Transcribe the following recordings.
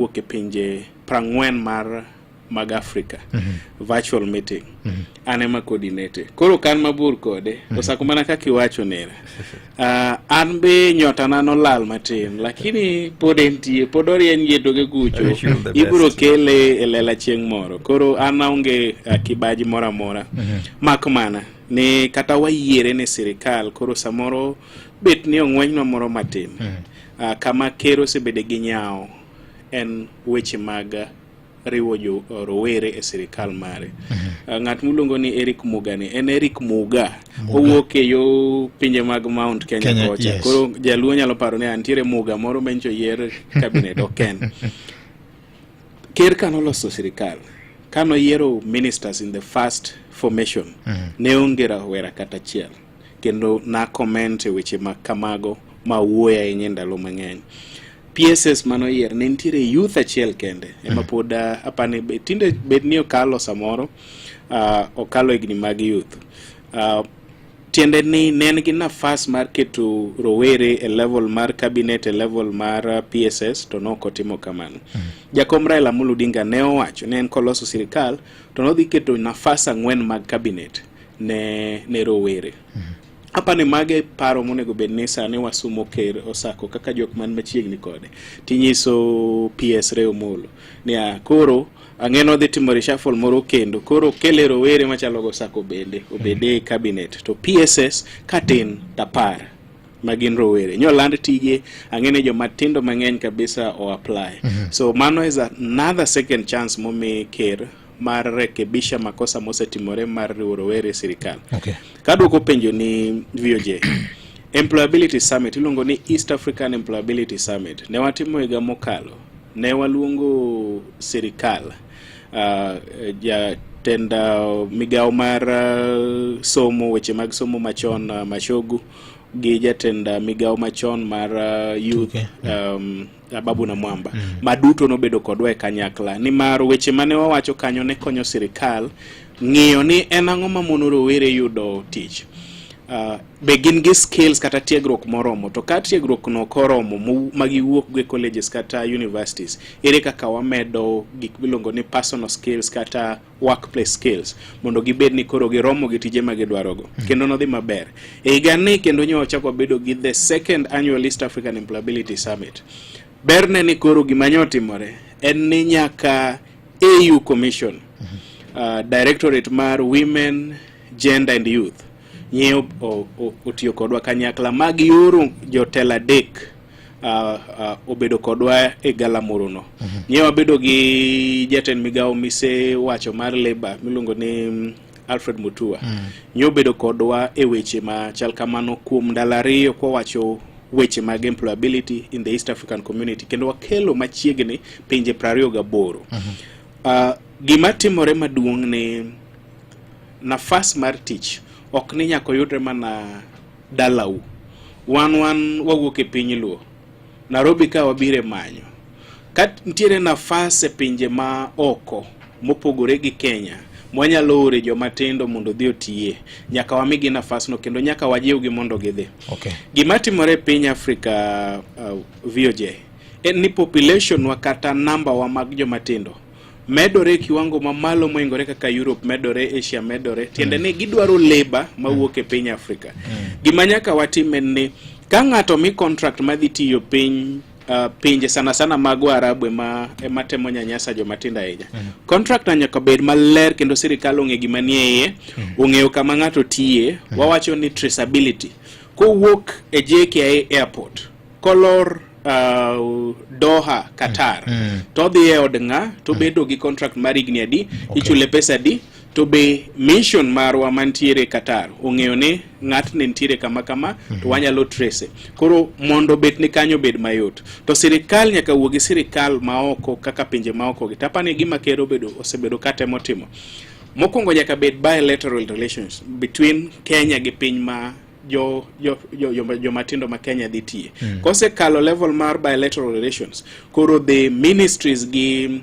wuok e pinje prang'wen mar mag Africa mm -hmm. virtual meeting mm -hmm. an ema coordinate koro kan mabor kode mm -hmm. osako mana kaka iwacho nera uh, ah, an be nyota na nolal matin lakini pod entie pod orien yetoge kucho ibiro kele e lela chieng' moro koro an aonge uh, kibaji moro amora mm -hmm. mak mana ni kata wayiere ni sirikal koro samoro bet ni ong'wenywa moro matin mm -hmm. Uh, kama ker osebede gi nyawo en weche mag riwo jo rowere e sirikal mare. Mm -hmm. uh, ng'at miluongo ni Eric Muga ni en Eric Muga, Muga. owuok e yo pinje mag Mount Kenya, Kenya kocha yes. Koro jaluo nyalo paro ni antiere Muga moro mencho yier cabinet oken ker ka noloso sirikal ka noyiero ministers in the first formation mm -hmm. ne onge rawera kata achiel kendo na comment e weche ma kamago ma wuoyo ahinya e ndalo mang'eny PSS mano yier ne nitiere youth achiel kende ema mm. pod ah, apani tinde bed ni okalo samoro uh, okalo higni mag youth uh, tiende ni ne en gi nafas mar keto rowere e level mar cabinet e level mar PSS to ne ok otimo kamano. Mm. Jakom Raila Amolo Odinga ne owacho ne en koloso sirikal to nodhi keto nafas ang'wen mag cabinet ne, ne rowere mm -hmm. Apani mage paro monego bed ni sani wasumo ker osako kaka jok man machiegni kode tinyiso PS Reo Molo niya koro ang'eno dhi timo reshuffle moro kendo koro kele rowere machalo go sako bende obede e cabinet to PSS katin tapar ma gin rowere nyoland tije ang'e ni joma tindo mang'eny kabisa o apply mm -hmm. so mano is another second chance momi ker mar rekebisha makosa mosetimore mar riwo rowere e sirikal. Okay. Kadwoko penjo ni VOJ Employability Summit iluongo ni East African Employability Summit ne watimo higa mokalo, ne waluongo sirikal uh, ja jatend uh, migawo mar uh, somo weche mag somo machon uh, Mashogu gi jatend uh, migawo machon mar uh, youth okay. um, Ababu na Mwamba mm. ma duto nobedo kodwa e kanyakla nimar weche mane wawacho kanyo ne konyo sirikal ng'iyo ni en ang'o mamono rowere yudo tich uh, be gin gi skills kata tiegruok moromo to ka tiegruok no koromo ma giwuok go e colleges kata universities ere kaka wamedo gik miluongo ni personal skills kata workplace skills mondo gibed ni koro giromo gi tije ma gidwarogo mm. kendo nodhi maber e higani kendo nyo ochako bedo gi the second annual East African Employability Summit berne ni koro gima nyo otimore en ni nyaka AU Commission mm -hmm. uh, Directorate mar Women Gender and Youth nyieo otiyo kodwa kanyakla mag yoro jotelo adek Uh, uh, obedo kodwa e galamoro no mm -hmm. nyewa bedo gi jatend migawo mise wacho mar labor miluongo ni mm, Alfred Mutua mm. nyobedo kodwa e weche ma chal kamano kuom ndalo ariyo kwawacho weche mag employability in the East African community kendo wakelo machiegni pinje prariyo gaboro mm -hmm. uh, gima timore maduong' ni nafas mar tich ok ni nyaka oyudre mana dalau wan wan wawuok e piny luo Nairobi ka wabire manyo ka nitiere nafas e pinje ma oko mopogore gi Kenya mwanyalo ore joma tindo mondo odhi otiye nyaka wamigi nafasno kendo nyaka wajiwgi mondo gidhi okay. gima timore e piny Afrika uh, VOJ en ni population wa kata namba wa mag joma tindo medore kiwango mamalo moingore kaka Europe medore, Asia medore, tiende ni gidwaro labor mawuok e piny Afrika. Gima nyaka watim en ni ka ng'ato mi contract madhi tiyo piny Uh, pinje sana sana mago Arabu ema ema temo nyanyasa joma tindo ahinya. Mm -hmm. Contract na nyaka bed maler kendo sirkal ong'e gima ni e iye, mm -hmm. ong'eyo kama ng'ato tiye, mm -hmm. wawacho ni traceability. Kowuok e JKIA airport kolor uh, Doha Qatar mm, mm. to odhi e od ng'a to mm. bedo gi contract mar higni adi okay. ichule pesa adi to be mission marwa mantiere Qatar ong'eyo ni ng'atni nitiere kama kama mm -hmm. to wanyalo trace koro mondo bet ni kanyo bed mayot to sirikal nyaka wuogi sirikal maoko kaka pinje maoko gi tapani gima ker obedo osebedo katemo timo mokwongo nyaka bed bilateral relations between Kenya gi piny ma jo jo jo jo, jo matindo ma Kenya dhi tiye mm. kosekalo level mar bilateral relations koro the ministries gi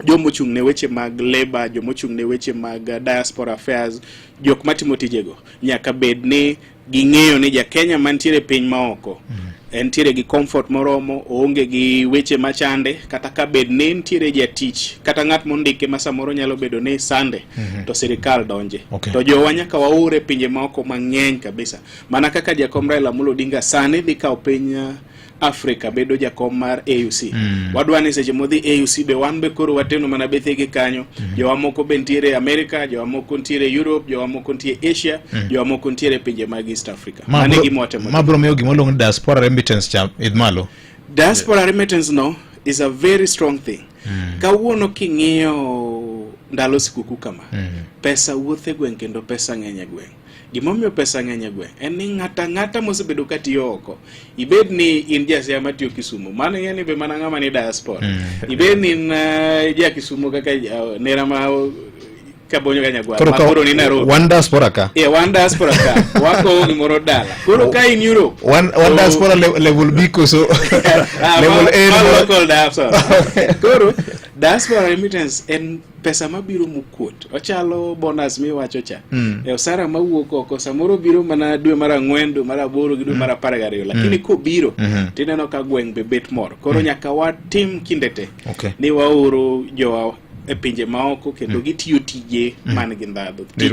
jomochung' ne weche mag labor jomochung' ne weche mag diaspora affairs jok matimo tijego nyaka bed ni ging'eyo ni ja Kenya mantiere piny maoko mm. entiere gi comfort moromo, oonge gi weche machande, kata ka bed ni entiere jatich kata ng'at mondike ma samoro nyalo bedo ni sande mm -hmm. to sirikal donje okay. to jowa nyaka waure pinje maoko mang'eny kabisa, mana kaka jakom Raila Amolo Odinga sani dhi kawo piny uh, Afrika bedo jakom mar AUC mm. wadwa ni seche modhi AUC be wan be koro wateno mana bethege kanyo mm. jowa moko be ntiere Amerika, jowa moko ntiere Europe, jowa moko ntiere Asia mm. jowa moko ntiere pinje mag East Africa. Africa. Ma Mane bro- gima watemo ma bro miyo gima oluong ni diaspora remittance cha idh malo diaspora remittance no is a very strong thing kawuono king'iyo ndalo sikuku kama pesa wuothe gweng' kendo pesa ng'eny e gweng' gimomiyo pesa ng'eny e gweng' en ni ng'ata ng'ata mosebedo ka tiyo oko ibed ni in jasia matiyo kisumo mano ing'e ni be mana ng'ama ni diaspora ibed ni in eh, ja kisumo kaka eh, nera ma ka bonyo kanyagwal koro ka koro ni Nairobi one diaspora ka yeah one diaspora ka wako ni moro dala koro ka in Europe one one diaspora le, level B koso ah, level A ma local diaspora koro diaspora remittance en pesa mabiro mukuot ochalo bonus miwacho cha mm. e osara mawuok oko samoro biro mana dwe mar ang'wen dwe mar aboro gi dwe mar hmm. apar gariyo lakini mm. kobiro mm -hmm. tineno ka gweng' be bet moro koro mm. nyaka watim kinde te Okay. Ni waoro jowa e pinje maoko kendo mm. gitiyo tije mm. man gi ndhadhu. Tije